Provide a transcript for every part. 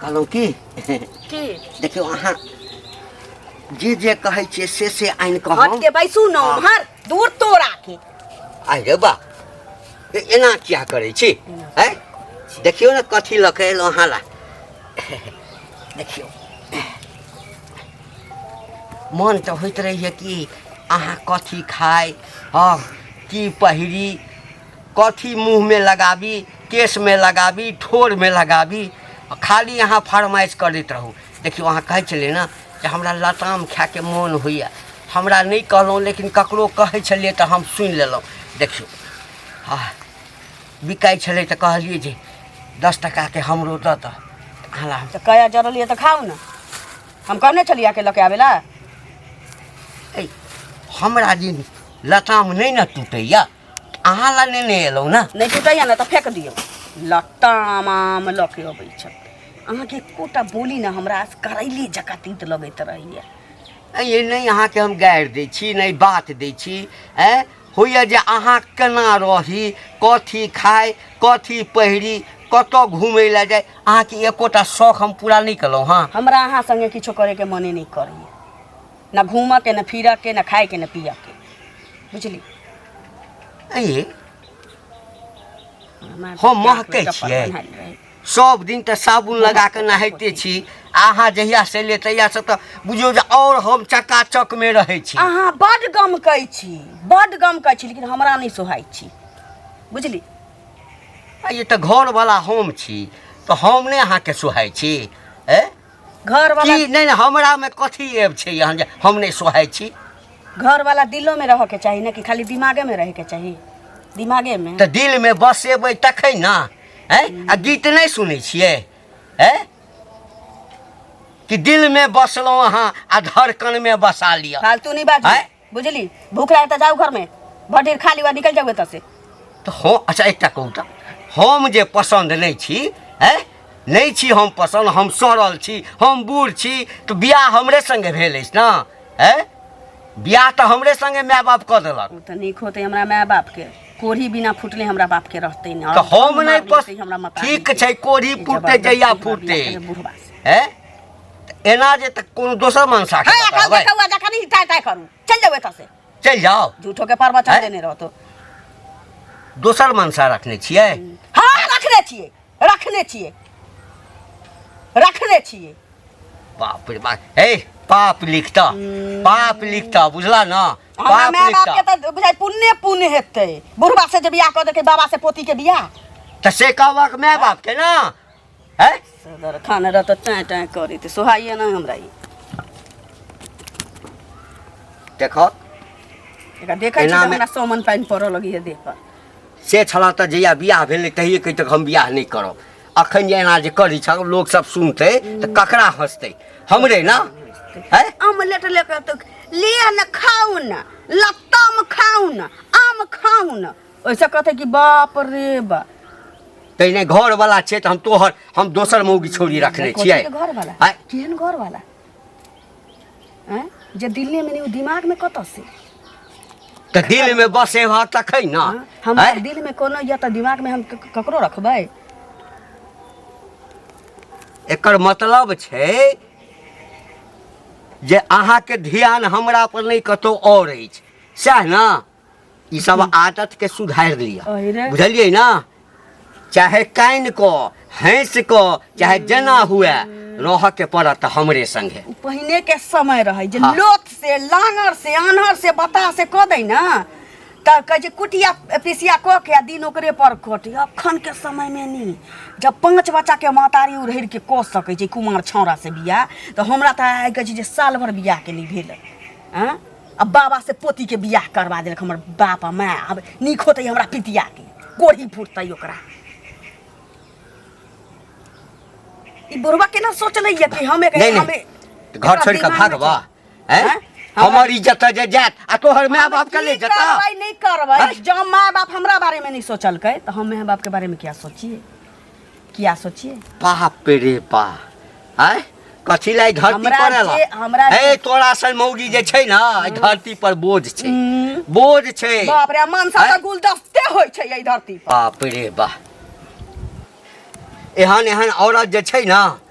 कहलहुँ की की देखियौ अहाँ जे जे कहै छियै से से आनि कऽ हट हम के बैसू न उम्हर दूर तोरा के आइ रे बा ए- एना किया करै छी है देखियौ ने कथी लऽ कऽ एलहुँ अहाँ ला देखियौ मन तऽ होइत रहैए कि अहाँ कथी खाइ हँ की पहिरी कथी मुँहमे लगाबी केशमे लगाबी ठोरमे लगाबी खाली अहाँ फरमाइश करैत रहू देखियौ अहाँ कहै छलियै ने जे हमरा लताम खायके मोन होइए हमरा नहि कहलहुँ लेकिन ककरो कहै छलियै तऽ हम सुनि लेलहुँ देखियौ आ बिकाइ छलै तऽ कहलियै जे दस टाकाके हमरो दऽ दऽ अहाँ हम तऽ कया जरलियै तऽ खाउ ने हम कहने छलियै अहाँके लऽ के आबै लए ऐ, हमरा दिन लताम नहि ने टूटैए अहाँ लग नेने एलहुँ ने नहि जुटैया ने तऽ फेक दियौ लट्टाम आम लऽ के अबै छथि अहाँके एकोटा बोली ने हमरा करैली जकाँ तीत लगैत रहैया ऐ, ये नहि अहाँके हम गारि दै छी नहि बात दै छी ऐ होइए जे अहाँ केना रही कथी खाइ कथी पहिरी कतऽ घुमै लए जाय अहाँके एकोटा शौख हम पूरा नहि केलहुँ हँ हमरा अहाँ संगे किछो करे के मने नहि करैया ना घूमा के ना फिरा के ना खाए के ना पिया के बुझली अये हमार हम बाप महकै रे चप्पल छियै। बन्हाइल रहै। सब दिन तऽ साबुन लगा कऽ नहाइते छी अहाँ जहिया से ले तहिया से तऽ बुझियौ जे आओर हम चकाचक मे रहै छी अहाँ बड गम कहै छी बड गम कहै छी लेकिन हमरा नहि सोहाइ छी बुझली आ ये तऽ घरवला हम छी तऽ हम नहि अहाँके सोहाइ छी ए घर वाला की नहि हमरा में कथी एब छै यहाँ जे हम नहीं सोहाय छी घर वाला दिलो में रह के चाहिए ना कि खाली दिमागे में रह के चाहिए दिमागे में तो दिल में बसेबै तखै ना हैं आ गीत नहीं सुनै छियै हैं कि दिल में बसलहुँ अहाँ आ धड़कन में बसा लिअ फालतू नहीं बात हैं बुझली भूख लागे त जाऊ घर में भर ढेर खा ली और निकल जाऊ एत से तो हो अच्छा एकटा कहू तऽ हम जे पसन्द नहीं छी है नहीं छी हम पसन्द हम सड़ल छी हम बूढ़ छी तो बियाह हमरे संगे भेल अछि ना है बियाह तऽ हमरे संगे माय बाप कऽ देलक उ त नीक होते हमरा माय बाप के कोढ़ी बिना फुटले हमरा बाप के रहते न तऽ हम नहि पस हमरा मता ठीक छै कोढ़ी फूटते जहिया फूटते बुढ़वा से है एना जे तक कोनो दोसर मनसा के हाँ एखन बताबै देखौ आ जखन ई टाइ टाइ करू चल जाओ एतऽ से चलि जाओ झूठो के प्रवचन हैं? देने रहतो दोसर मनसा रखने छियै हाँ रखने छिए रखने छिए रखने छिए बाप रे बाप हे पाप लिखता हम्म। पाप लिखता बुझला ना हमरा पाप माय बाप लिखता के तऽ बुझाइ पुण्य पुण्य हेतै बुढ़बा से जे बियाह कऽ देलकै बाबा से पोती के बियाह तऽ से कहबक माय बाप के ना है सदर खाने रहत टाँ टाँ करी तो सुहाइए ना हमरा ई देखो एकरा देखै छी एना तऽ मे- हमरा सोमन पानि पड़ऽ लगी है देह पर से छला तऽ जहिया बियाह भेलै तहिए कहि तक हम बियाह नहि करब अखन जे एना जे करै छ लोक सब सुनतै तऽ ककरा हँसतै हमरे ना है अमलेट लेकर तो लिया न खाऊ न लत्तम खाऊ न आम खाऊ न ऐसा कहते कि बाप रे बा तै नहीं घर वाला छे तो हम तोहर हम दोसर मौगी छोड़ी रखने कथी छियै के घर वाला आय। केहन घर वाला हैं? जे दिल्ली में नहीं उ दिमाग में कत से तो दिल में बसे भा तक है ना हाँ? हम आय। दिल में कोनो या तो दिमाग में हम क- क- ककरो रखबै एकर मतलब छै जे अहाँके ध्यान हमरा पर नहि कतहु आओर अछि सएह ने ई सब आदत के सुधार लिया अरे। बुझलिए ना चाहे कान को हैंस को चाहे जना हुए रह के पड़त हमरे संगे उ पहिने के समय रहे जे हाँ। लोथ से लांगर से आन्हर से बता से कह दै ना तब कहे छै कुटिया पिसिया कह के आ दिन ओकरे पर कटे अखन के समय में नहीं जब पांच बच्चा के मातारी उड़हर के कह सकै छै कुमार छौड़ा से बियाह तऽ हमरा तऽ आइ कहै छै जे साल भर बियाह के नहि भेल हँ आ बाबा से पोती के बियाह करवा देलक हमर बाप आ माय अब नीक होते हमरा पितिया के गोढ़ी फूटते ओकरा ई बुढ़वा केना सोचले ये कि हम एक नहीं, नहीं। हमें तो घर छोड़ के भागबा हैं हैं? हमर इज्जत जे जात आ तोहर माय बाप के ले जता नहीं करबै जब माय बाप हमरा बारे में नहीं सोचलकै तो हम माय बाप के बारे में क्या सोचिए क्या सोचिए बाप रे बा आय कथी ला ई धरती हमरा पर आला जे- हमरा ए जे- तोरा सन मौगी जे छै ना ई धरती पर बोझ छै हम्म। बोझ छै बाप रे मनसा आँय? तऽ गुलदस्ते होइ छै एहि धरती पर बाप रे बा एहन एहन औरत जे छै ना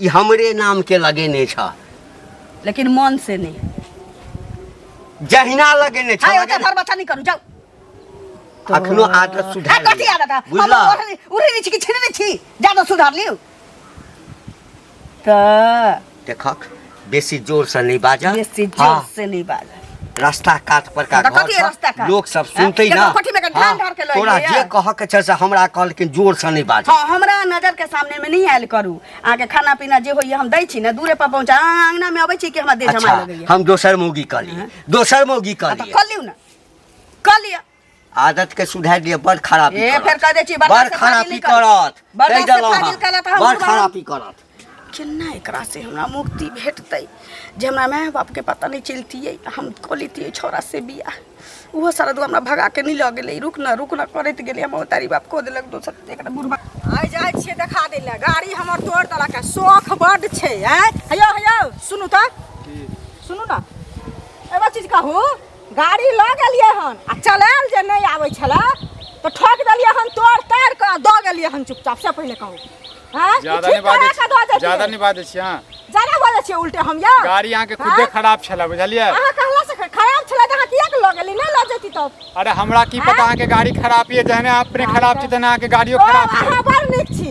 ई हमरे नाम के लगेने छ लेकिन मन से नहीं जहिना लगेने छ हाय ओते लगेने- भर बच्चा नहीं करू जाओ अखनो आदत है सुधार कथी लिअ। आदत है हम बुझलऽ ओढ़नी उड़ी नहीं छी कि छिड़ने छी ज्यादा सुधार लियो त देखक बेसी जोर से नहीं बाजा बेसी जोर हाँ, से नहीं बाजा रास्ता काट पर का तो घर कथी है रास्ता काट? लोग सब हाँ, सुनते केकरो ना कोठी में के ढान हाँ, ढार के लइले तोरा है। जे कह के छै से हमरा कहल कि जोर से नहीं बाजा हाँ हमरा नजर के सामने में नहीं आयल करू अहाँके खाना पीना जे होइए हम दै छी ने दूरे पर पहुँचा अहाँ अंगना में अबै छी कि हमरा देह अच्छा जमा लगैए हम दोसर मौगी कहली दोसर मौगी हाँ, तऽ कहली कऽ लियौ ने कऽ लिअ आदत के सुधार दिए बड़ खराब ए फेर कह दे छी बड़ बर्दाश्त से खराब फाजिल ही निकल। करत बर्दाश्त कहि से देलहुँ फाजिल हम। कयला तऽ हम बड़ बुझबै। खराब ही करत केना एकरा से हमरा मुक्ति भेटतै जे हमरा माय बापके पता नहि चलतियै आ हम कऽ लैतियै छौड़ा से बियाह ओहो सारा दू हमरा भगा के नहि लऽ गेलै रुक न रुक न करैत गेलै हमर तारी बाप कऽ देलक दोसर एकरा बुढ़बा आइ जाइ छियै देखा दै लए गाड़ी हमर तोड़ देलक है शौख बड्ड छै आँय हयौ हयौ सुनू तऽ सुनू ने एगो चीज कहू गाड़ी लऽ गेलियै हन आ चलायल जे नहि आबै छलै तऽ ठोक देलियै हन तोड़ ताड़ कऽ दऽ गेलियै हन चुपचाप से पहिले कहू हँ ज्यादा नहि बाजै छी ज्यादा नहि बाजै छी अहाँ ज्यादा बाजै छियै उल्टे हम यौ गाड़ी अहाँके खुदे खराब छलै बुझलियै अहाँ कहला से खराब छलै तऽ अहाँ किया के लऽ गेली नहि लऽ जेती तब अरे हमरा की पता अहाँके गाड़ी खराब यऽ जहने अपने खराब छी तहने अहाँके गाड़ियो खराब छै अहाँ बड़ नीक छी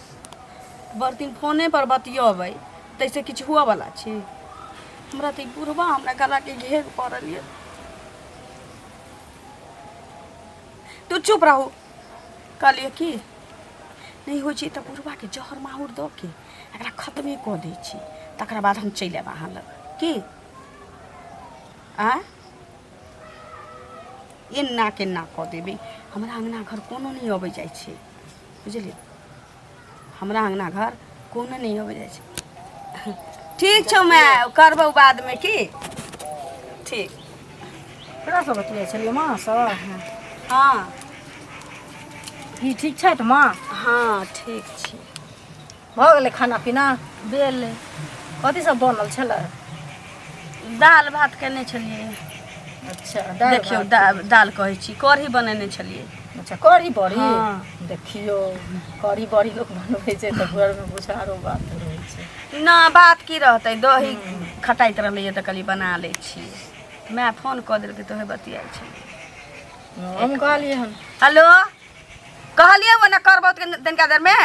भरि दिन फोने पर बतियबै ताहिसँ किछु हुअ बला छी हमरा तऽ ई बुढ़बा हमरा गलाके घेर पड़ल यऽ तू चुप रहू कहलियै की नहि होइ छै तऽ बुढ़बाके जहर माहुर दऽ के एकरा खतमे कऽ दै छी तकरा बाद हम चलि आयब अहाँ लग की आ एना केना कऽ देबै हमरा अङ्गना घर कोनो नहि अबै जाइ छै बुझलियै हमरा अङ्गना घर कोनो नहि अबै जाइ छै ठीक छौ माय करबौ बादमे की ठीक केकरा सब बतियाइ छलियै माँ सब हँ ई ठीक छथि माँ हँ ठीक छी भऽ गेलै खाना पीना भेलै कथी सब बनल छलै दालि भात केने छलियै अच्छा दालि देखियौ भात। दालि दालि कहै छी कढ़ी बनेने छलियै अच्छा कढ़ी बड़ी हँ। देखियौ कढ़ी बड़ी लोक बनबै छै तऽ घरमे किछु आरो बात रहै छै न बात की रहतै दही खटाइत रहलैए तऽ कहलियै बना लै छी माय फोन कऽ देलकै तऽ ओहे बतियाइ छै हम कहलियै हन हेलो कहलियै ओ ने करबौ तनिका देरमे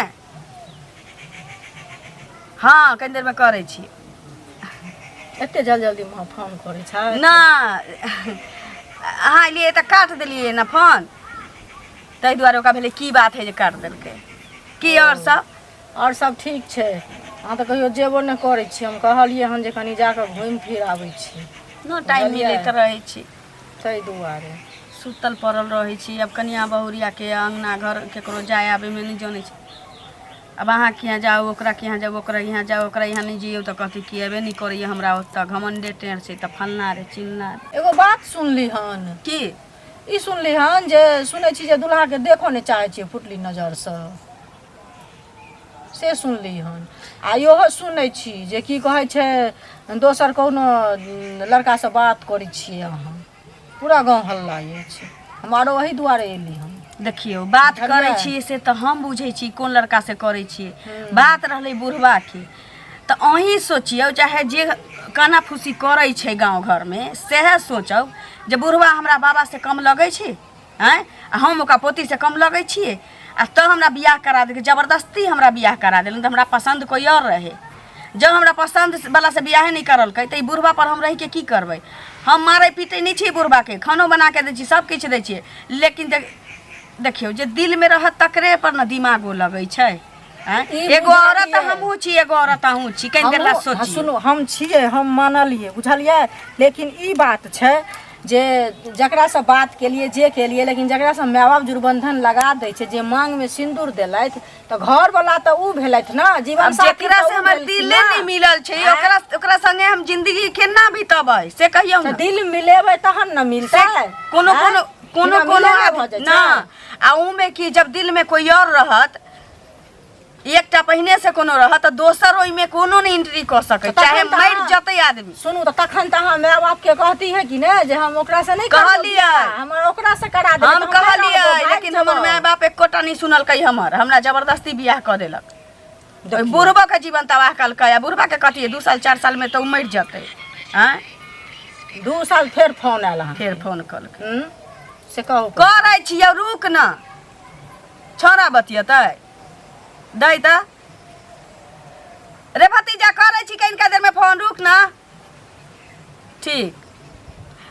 हँ कनि देरमे करै छी एते जल्दी जल्दी माँ फोन करै छै नहि अहाँ एलियै तऽ काट देलियै ने फोन ताहि दुआरे ओकरा भेलै की बात है जे काट देलकै की आओर सब आओर सब ठीक छै अहाँ तऽ कहियो जेबो नहि करै छी हम कहलियै हन जे कनि जाकऽ घुमि फिर आबै छी नहि टाइम मिलैत रहै छी ताहि दुआरे सुतल पड़ल रहै छी आब कनिया बहुरिया के अंगना घर केकरो जाय आबे में नहीं जाने छी अब अहाँ के यहाँ जाओ ओकरा के यहाँ जाओ ओकरा यहाँ जाओ ओकरा यहाँ नहीं जियो तो कहती कि अबे नहीं करे हमरा ओतऽ घमंडे टेढ़ छै तऽ फन्ना रे चिन्ना रे एगो बात सुनली हन की ई सुनली हन जे सुनै छी जे दुल्हा के देखो नहि चाहै छियै फुटली नजर से से सुनली हन आ इहो सुनै छी जे की कहै छै दोसर कोनो लड़कासँ बात करै छियै अहाँ पूरा गाँव हल्ला अछि हम आरो ओही दुआरे एली हम देखियौ बात करै बुझलियै? छियै से तऽ हम बुझै छी कोन लड़का से करै छियै बात रहलै बुढ़वा के तऽ अहीं सोचियौ चाहे जे काना फूसी करै छै गाँव घरमे सएह सोचौ जे बुढ़वा हमरा बाबा से कम लगै छै आँय आ हम ओकरा पोतीसँ कम लगै छियै आ तऽ हमरा बियाह करा देलकै जबरदस्ती हमरा बियाह करा देलकै तऽ हमरा पसन्द कोइ आओर रहै जब हमरा पसन्द वाला से बियाहे नहि करलकै तऽ ई बुढ़बा पर हम रहि के की करबै हम मारै पीटै नहि छियै बुढ़बा के खानो बना के दै छियै सब किछु दै छियै लेकिन देख- देखियौ जे दिल में रहत तकरे पर ने दिमागो लगै छै हाँ, ई एगो बुझलियै। औरत हमहू छी एगो औरत अहू छी कहीं देर ला हमहूँ- हाँ, सोची सुनू हम छियै हम मानलियै बुझलियै लेकिन ई बात छै जे जकरा से बात केलिए जे केलिए लेकिन जकरा से माय बाप जुर्बंधन लगा दै छै जे मांग में सिंदूर देलथि तऽ घर वाला तऽ ऊ भेलथि ने अब जीवन साथी जेकरा तऽ से ऊ हमर भेलखिन दिले ने। नहीं मिलल छै हाँ, ओकरा ओकरा संगे हम जिंदगी केना बितबै से कहियौ तऽ ने दिल मिलेबै तहन ने मिलतै से कोनो हाँ? कोनो कोनो बिना कोनो मिलले भऽ जाइ छै। ना आ ऊ में कि जब दिल में कोई और रहत एकटा पहिने से कोनो रहत तऽ दोसर ओहिमे कोनो नहि एंट्री कऽ सकै तखन चाहे तऽ मरि अहाँ- जतै आदमी सुनू तऽ तखन तऽ अहाँ माय बाप के कहती है कि ने जे हम ओकरा से नहीं करब कहलियै। बियाह, हमर ओकरा से करा देब हम तऽ माय कहलियै बाप भागि लेकिन हमर जेबौ। माय बाप एकोटा नहि सुनलकै हमर हमरा जबरदस्ती बियाह कऽ देलक ओहि बुढ़बा के जीवन तबाह कलकै आ बुढ़बा के कटिए दू साल चारि साल में तऽ ओ मरि जतै आँय दू साल फेर फोन आयल अहाँ फेर फोन कलकै हम्म? से कहू करै छियै रुक न छोरा बतियेतै दै तऽ रे भतीजा करै छी कनिका देरमे फोन रुक ना ठीक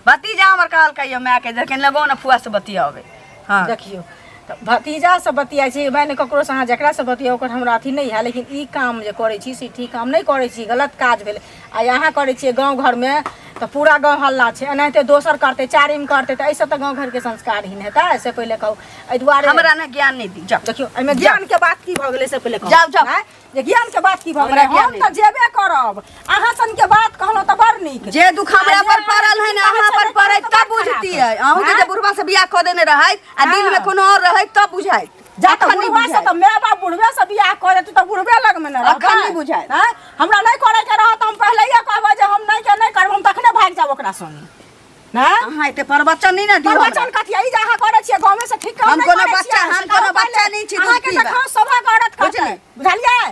भतीजा हमर कहल कहियो मायके जे कनि लगो ने फुआ से बतियावे हाँ देखियो तऽ भतीजा से बतिया छी माने ककरो से अहाँ जकरा से बतिया ओकर हमरा अथी नहीं है लेकिन ई काम जे करै छी से ठीक काम नहीं करै छी गलत काज भेलै आ अहाँ करै छियै गाँव घरमे तऽ पूरा गाँव हल्ला छै एनाहिते दोसर करतै चारिम करतै तऽ एहिसँ तऽ गाँव घरके संस्कारहीन हेतै से पहिले कहू एहि दुआरे हमरा ने ज्ञान नहि दी जाओ देखियौ एहिमे ज्ञानके बात की भऽ गेलै से पहिले कहू जाउ, जाउ। आँय? जे ज्ञानके बात की भऽ हमरा गेलै ज्ञान हम नहि तऽ जेबे करब अहाँ सनके बात कहलहुँ तऽ बड़ नीक जे दुख हमरा पर पड़ल है ने अहाँ पर पड़ै तब बुझतियै अहूँ के जे बुढ़वा से बियाह कऽ देने रहै आ दिल में कोनो और रहै तब बुझाइत जा तऽ अखन नहि बुढ़वा से बुझाएत। तऽ माय बाप बुढ़वे से बियाह कऽ देतै तऽ बुढ़वे लग में न रहबै अखन नहि बुझाएत। हैं? हमरा नहीं करे के रहत हम पहिलैये कहबै जे हम नहीं के नहीं करब हम तखने भाग जाब ओकरा संगे हैं? अहाँ एते प्रवचन नहीं ना दियो हमरा। प्रवचन कथी ई जे अहाँ करे छियै गाँवे से ठीक काम हम नहि कोनो करे बच्चा- छियै। हम कोनो बच्चा नहि छी, अहाँके बुझती तऽ बा। खास सौभाग्य औरत करतै बुझलियै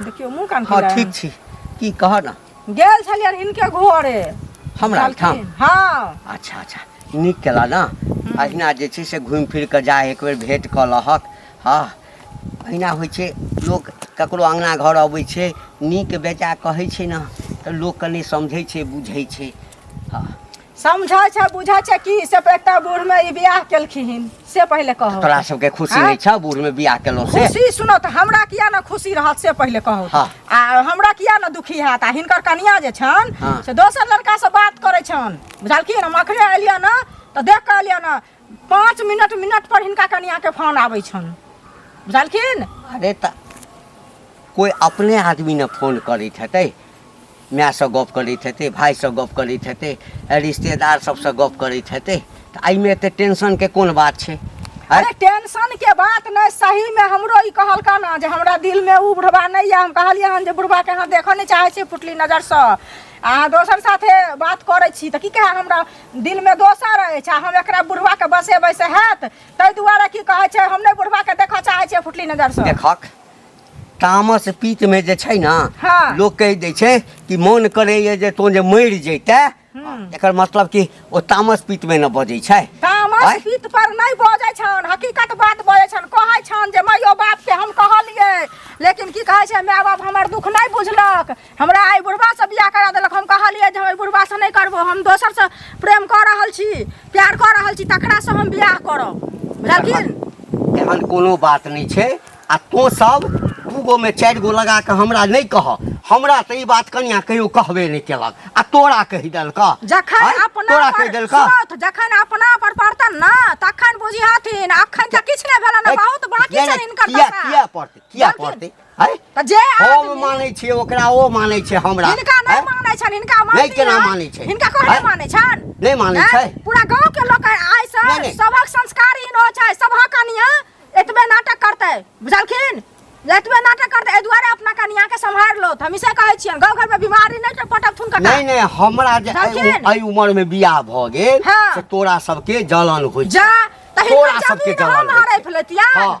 देखियौ मुँह कान हँ खुला ठीक छी की कह ने गेल छलियनि हिनके घरे हमरा ओहिठाम कहलखिन, हँ अच्छा अच्छा नीक केला ने अहिना जे छै से घुमि फिर कऽ जा एक बेर भेंट कऽ लहक हँ अहिना होइ छै लोक ककरो अङ्गना घर अबै छै नीक बेजा कहै छै ने तऽ लोक कनि समझै छै बुझै छै हँ समझै छै बुझै छै कि से एकटा बूढ़ में ई बियाह केलखिन से पहिले कहो तोरा सबके खुशी आँय? नहीं छौ बूढ़ में बियाह केलौं से खुशी सुनो तऽ हमरा किया ने खुशी रहत से पहिले कहो हाँ। आ हमरा किया ने दुखी हैत आ हिनकर कनिया जे छन हाँ। से दोसर लड़का से बात करै छन बुझलखिन हम अखने एलियै ने तऽ देख कऽ एलियै ने पाँच मिनट मिनट पर हिनका कनिया के फोन आबै छन बुझलखिन अरे तऽ कोइ अपने आदमी ने फोन करैत हेतै मायसँ गप करैत हेतै भायसँ गप करैत हेतै रिश्तेदार सबसँ गप करैत हेतै तऽ एहिमे एते टेंशनके कोन बात छै अरे अरे टेंशन के बात नहीं सही में हमरो ई कहलका ना जे हमरा दिल में ऊ बुढ़वा नहीं है हम कहलिए हन जे बुढ़वा के यहाँ देखऽ नहीं चाहे छी पुटली नजर से अहाँ दोसर साथे बात करै छी तऽ की कहै हमरा दिलमे दोसर अछि आ हम एकरा बुढ़वाके बसेबै से हैत ताहि दुआरे की कहै छै हम नहि बुढ़वाके देखऽ चाहै छियै फुटली नजरसँ देखक तामस पीतमे जे छै ने हँ। लोक कहि दै छै कि मोन करैए जे तोँ जे मरि जैते एकर मतलब कि ओ तामस पीतमे ने बजै छै आँय? तामस पीत पर नहि बजै छन हकीकत बात बजै छन कहै छन जे मायो बाप के हम कहलियै लेकिन की कहै छै माय बाप हमर दुख नहि बुझलक हमरा एहि बुढ़बासँ बियाह करा देलक हम कहलियै जे हम एहि बुढ़बासँ नहि करबो हम दोसरसँ प्रेम कऽ रहल छी प्यार कऽ रहल छी तकरासँ हम बियाह करब बुझलखिन एहन कोनो बात नहि छै आ तो सब दू गो में चारि गो लगा कऽ हमरा नहि कह हमरा तऽ ई बात कनिया कहियो कहबे नहि केलक आ तोरा कहि देलक जखन आँय? अपना तोरा पर कहि देलक सोत, जखन अपना पर पड़तन ना तखन बुझिहथिन अखन तऽ किछु नहि भेलन बहुत बाकी किया छनि नहि- हिनकर किया दशा। किया पड़तै किया बाकी- पड़तै है तऽ जे हम आदमी मानै छियै ओकरा ओ मानै छै हमरा हिनका नहि हैं? मानै छनि हिनका मानै नहि केना मानै छै? हिनका कोना हैं? मानै छनि नहि मानै हैं? छै पूरा गांव के लोग आइ नहि, से नहि। सबक संस्कार हीन हो छै सबहक कनिया एतबे नाटक करतै बुझलखिन एतबे नाटक करतै एहि दुआरे अपना कनिया के सम्हारि लो हम इसे कहै छियनि गांव घर में बीमारी नहि पटक थुन कटा नहि नहि हमरा जे एहि बुझलखिन? उ- एहि उमर में बियाह भऽ गेल हाँ। से तोरा सबके जलन होइ छै जा तऽ तोरा हिनकर सबके जमीन जलन हम होइ छै। हड़पि लेतियनि हाँ।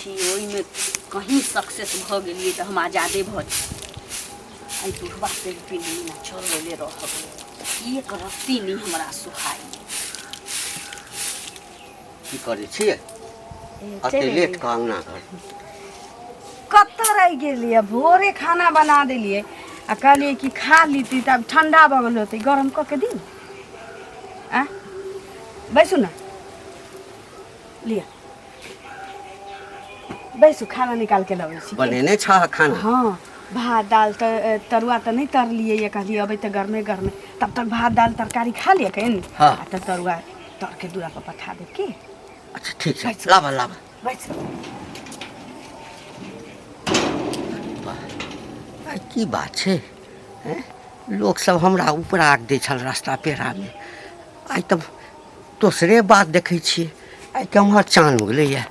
कि ओहिमे कहीँ सक्सेस भऽ गेलियै तऽ हम आजादे भऽ जायब एहि बुढ़बा पेड़ पीने चल गेले रहब एक रत्ती नहि हमरा सुहाई की करै छियै एते लेट कऽ अङ्गना घर कतऽ रहि गेलियै भोरे खाना बना देलियै आ कहलियै कि खा लीती तब ठंडा भऽ गेल होतै गरम कऽ के दी आ बैसू ने लिअ बैसू खाना निकाल के लबै छी बनेने छ खाना हाँ भात दाल त तरुआ त नहीं तरलिए ये कहलिए अबै त गर्मे गर्मे तब तक भात दाल तरकारी खा लिया कहीं हाँ। आ त तरुआ तर के दूरा पर पठा दे के अच्छा ठीक छै बैसू। लाबा लाबा बैस आ, की बात छै हैं? लोक सब हमरा ऊपर आग दै छल रास्ता पेड़ामे आइ तऽ दोसरे बात देखै छियै आइ केम्हर चान उगलैए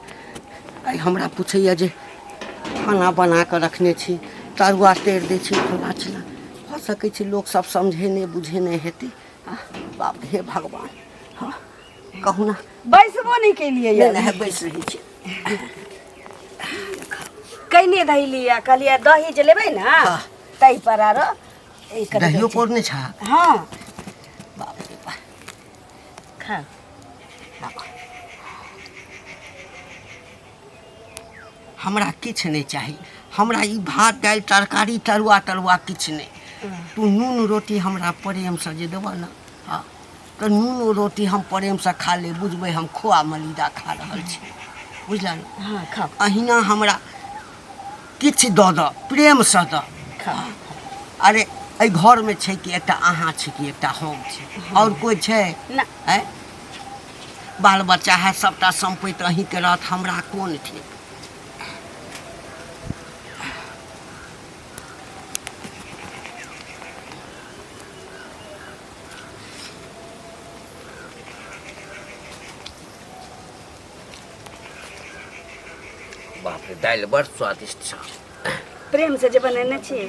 आइ हमरा पूछैए जे खाना बना कऽ रखने छी तरुआ तरि दै छी फल्लाँ चिल्लाँ भऽ सकै छै लोकसभ समझे नहि बुझे नहि हेतै आ बाप हे भगवान हँ कहू ने बैसबो नहि केलियै नहि नहि बैस रहै छी कैने धैलियै कहलियै दही जे लेबै ने हँ। ताहि पर आरो ई कनि दहियो पौड़ने छा हँ Kaka. हमरा किछु नहि चाही हमरा ई भात दालि तरकारी तरुआ तरुआ किछु नहि तू नून रोटी हमरा प्रेमसँ जे देबह ने हँ तऽ नून रोटी हम प्रेमसँ खा ले बुझबै हम खोआ मलिदा खा रहल छी बुझल ने हँ खाओ अहिना हमरा किछु दऽ दऽ प्रेमसँ दऽ अरे एहि घरमे छै कि एकटा अहाँ छी कि एकटा हम छी आओर कोइ छै ना आँय? बाल बच्चा है सभटा सम्पैत अहीँके रहत हमरा कोन ठीक बाप रे दालि बड़ स्वादिष्ट छ प्रेम से जे बनेने छी